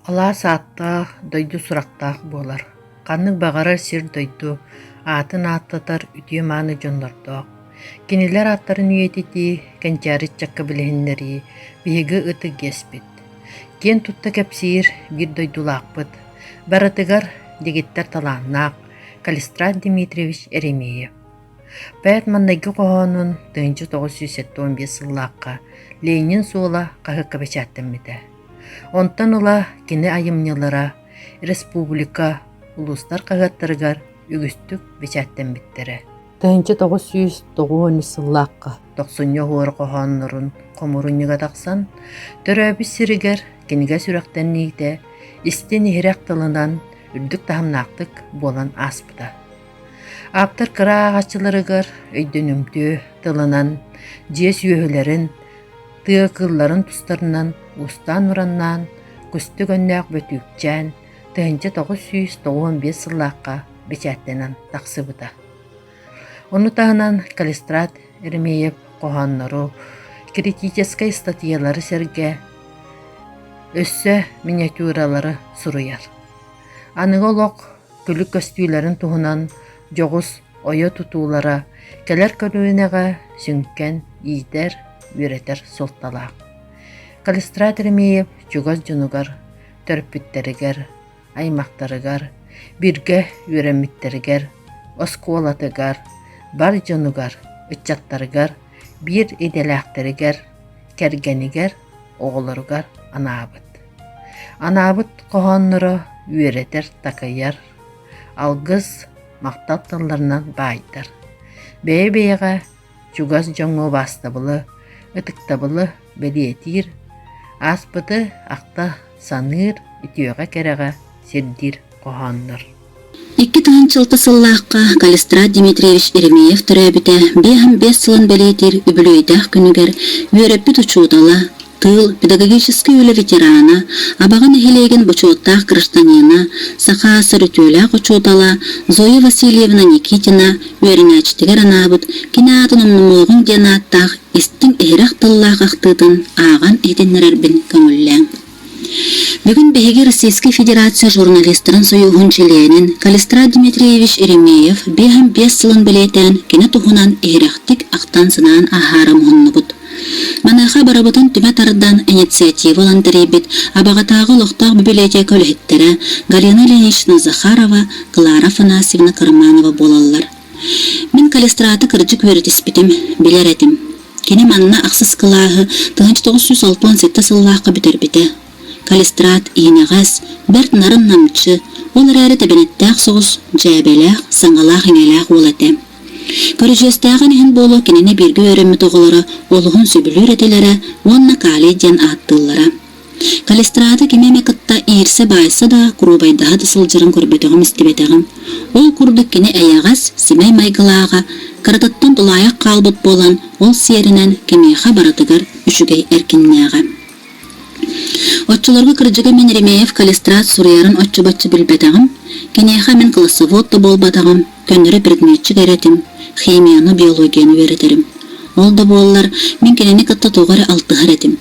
Алаас ааттаах, дойду сурахтаах буолар, ханнык баҕарар сир-дойду аатын ааттатар үтүө-мааны дьоннордоох. Кинилэр ааттарын үйэтитии, кэнчээри ыччакка билиһиннэрии биһиги ытык иэспит. Киэн тутта кэпсиир биир дойдулаахпыт, барытыгар дэгиттэр талааннаах Калистрат Дмитриевич Еремеев. Поэт маҥнайгы хоһоонун тыһыынча тоҕус сүүс сэттэ уон биэс сыллаахха Ленин суола хаһыакка бэчээттэммитэ. Онтон ыла кини айымньылара республика, улуустар хаһыаттарыгар үгүстүк бэчээттэммиттэрэ. 1900-1913 сыллаахха Тохсунньу оһуор хоһооннорун хомурунньуга тахсан, төрөөбүт сиригэр кинигэ сүрэхтэниитэ истин-иһирэх тылынан үрдүк таһымнаахтык буолан ааспыта. Ааптар кыра ааҕаччыларыгар өйдөнүмтүө тылынан дьиэ сүөһүлэрин, тыа кыылларын тустарынан устаан ураннаан, кустук өннөөх Бөтүүкчээн тыһыынча тоҕус сүүс тоҕуон биэс сыллаахха бэчээттэнэн тахсыбыта. Ону таһынан Калистрат Эрмеев хоһооннору, критическэй статьялары сэргэ, өссө миниатюралары суруйар. Аныгы олох тулүк көстүүлэрин туһунан дьоҕус ойо тутуулара кэлэр көлүөнэҕэ сүҥкэн иитэр, үөрэтэр суолталаах. Калистрат Ремеев чугас дьонугар, төрөппүттэригэр, аймахтарыгар, биргэ үөрэммиттэригэр, оскуолатыгар, бар дьонугар, ыччаттарыгар, биир идэлээхтэригэр, кэргэнигэр, оҕолоругар анаабыт. Анаабыт хоһоонноро үөрэтэр-такайар, алгыс, махтал тылларынан баайдар. Бэйэ-бэйэҕэ чугас дьоҥҥо убаастабылы, ытыктабылы бэлиэтиир, ааспыты ахта саныыр, үтүөҕэ-кэрэҕэ сирдиир хоһооннор. Икки тыһыынчалта сыллаахха Калистрат Дмитриевич Еремеев төрөөбүтэ биэс аһым биэс сылын бэлиэтиир үбүлүөйдээх күнүгэр үөрэппит учуутала, тыыл, педагогический үлэ ветерана, Абаҕа нэһилиэгин бочуоттаах гражданина, саха сар үтүөлээх учуутала Зоя Васильевна Никитина үөрэнээччитигэр анаабыт кини аатын умнумуоҕуҥ диэн ааттаах истиҥ иһирэх тыллаах ахтыытын ааҕан иһитиннэрэрбин көҥүллээҥ Бүгүн биһиги Российскай Федерация журналистарын союһун чилиэнин Калистрат Дмитриевич Еремеев биэһин биэс сылын бэлиэтээн кинэ туһунан иһирэхтик ахтан-санаан ааһаары муһуннубут. Маныаха барыбытын түмэ тардан инициатива ылан тэрийбит Абаҕатааҕы олохтоох библиотека үлэһиттэрэ Галина Ильинична Захарова, Клара Афанасьевна Карманова буолаллар. Мин калистраты кырдьык үөрэтиспитим, билэр этим. Кини манна ахсыс кылааһы 1900-1906 сыллаахха бүтэрбитэ. Калистрат иинэҕэс, бэрт нарын-намчы, ол эрээри тэбэнэттээх соҕус, дьээбэлээх, саҥалаах-иҥэлээх уол этэ. Көрүдьүөстээҕин иһин буолуо кинини бииргэ үөрэммит оҕолоро олуһун сөбүлүүр этилэрэ уонна калий диэн ааттыыллара. Калистрата ким эмэ кытта иирсэ-баайса да, куруубайдаһа да сылдьарын көрбөтөҕүм-истибэтэҕим. Ол курдук кини эйэҕэс, симэй майгылааҕа, кыратыттан тулаайах хаалбыт буолан, ол сиэринэн кимиэхэ барытыгар үчүгэй эркиннээҕэ. Оччолорго кырдьыга мин Ремеев калистрат суруйарын оччо-бачча билбэтэҕим, киниэхэ мин классовод да буолбатаҕым, көннөрү предметчик эрэ этим, химияны, биологияны үөрэтэрим. Ол да буоллар, мин кинини кытта тоҕо эрэ алтыһар этим.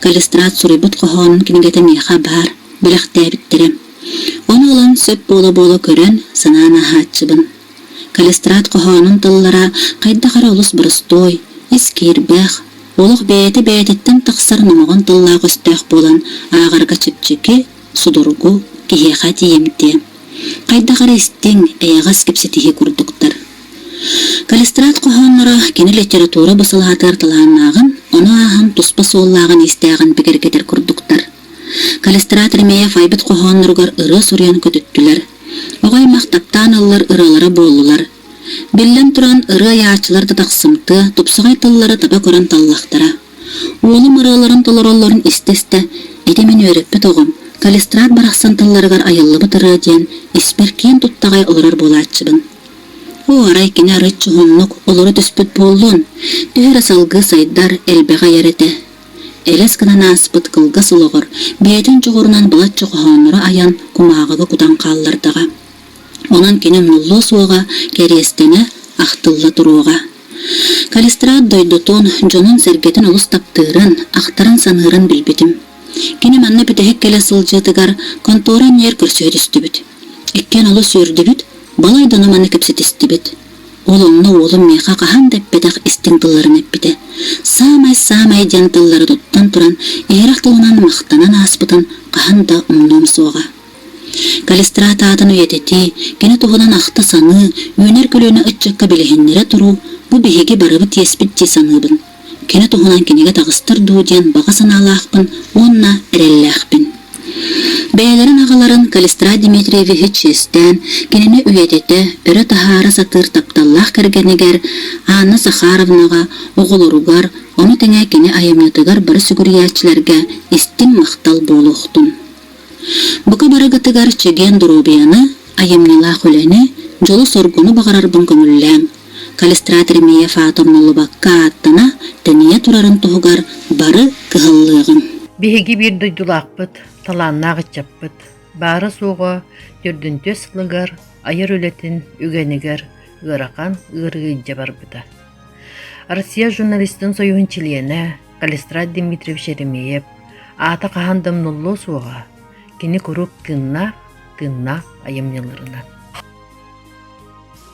Калистрат суруйбут хоһоонун кинигэтэ миэхэ баар бэлэхтээбиттэрэ. Ону ылан сөп буола-буола көрөн, санаан аһааччыбын. Калистрат хоһоонун тыллара хайдах эрэ олус боростуой, искиирбэх, олох бэйэтэ бэйэтиттэн тахсар номоҕон тыллаах-өстөөх буолан ааҕарга чэпчэки, судургу, киһиэхэ тиийэмтиэ. Хайдах эрэ истиҥ, эйэҕэс кэпсэтиһии курдуктар. Калистрат хоһоонноро кини литература бу салаатыгар талааннааҕын, ону ааһан туспа суоллааҕын-истээҕин бигэргэтэр курдуктар. Калистрат Ремеев айбыт хоһоонноругар ырыа суруйан көтүттүлэр. Оҕо аймах таптаан ыллар ыралара буоллулар. Биллэн туран, ырыа айааччылар да тахсымтыа, тупсаҕай тыллары таба көрөн таллахтара. Уолум ырыаларын толороллорун истэ-истэ, ити мин үөрэппит оҕом, Калистрат барахсан тылларыгар айыллыбыт ырыа диэн испэр киэн туттаҕай олорор буолааччыбын. Оо, арай кини арыт чуһуннук олоро түспүт буоллун, төһө эрэ салгыы сайдар, элбэх айар этэ. Элэс гынан ааспыт кылгас олоҕор бэйэтин дьоҕурунан былачча хоһоонноро айан кумааҕыга кутан хааллардаҕа. Онон кини умнуллуо суоҕа, кэриэстэнэ, ахтылла туруоҕа. Калистрат дойдутун, дьонун-сэргэтин олус таптыырын, ахтарын-саныырын билбитим. Кини манна бүтэһик кэлэ сылдьыытыгар контора иннигэр көрсүһэ түстүбүт. Иккиэн олус үөрдүбүт, балай дьону манна кэпсэтистибит. Ол онно уолум миэхэ хаһан да эппэтэх истиҥ тылларын эппитэ. Саамай-саамай дьэҥ тыллары туттан туран, иһирэх тылынан махтанан ааспытын хаһан да умнуом суоҕа. Калистрат аатын үйэтитии, кини туһунан ахта саныы, үүнэр көлүөнэ ыччакка билиһиннэрэ туруу, бу биһиги барыбыт иэспит дии саныыбын. Кини туһунан кинигэ таҕыстар дуу диэн баҕа санаалаахпын уонна эрэллээхпин. Бэйэлэрин аҕаларын Калистрат Дмитриевиһи чиэстээн, кинини үйэтитэ, өрө таһаара сатыыр тапталлаах кэргэнигэр Анна Сахаровнаҕа, оҕолоругар, ону тэҥэ кини айымньытыгар бары сүгүрүйээччилэргэ истиҥ махтал буолуохтун. Бука барыгытыгар чэгиэн доруобуйаны, айымньылаах үлэни, дьолу-соргуну баҕарарбын көҥүллээм. Калистрат Ремеев аата умнуллубакка ааттана, тэнийэ турарын туһугар бары кыһаллыаҕыҥ. Биһиги биир дойдулаахпыт, талааннаах ыччаппыт, баара-суоҕа төрдүнтүөс сылыгар айар үлэтин үгэнигэр ыарахан ыарыы илдьэ барбыта. Россия журналистын союһун чилиэнэ Калистрат Дмитриевич Еремеев аата хаһан да умнуллуо суоҕа, кини куруук тыыннаах, тыыннаах айымньыларынан.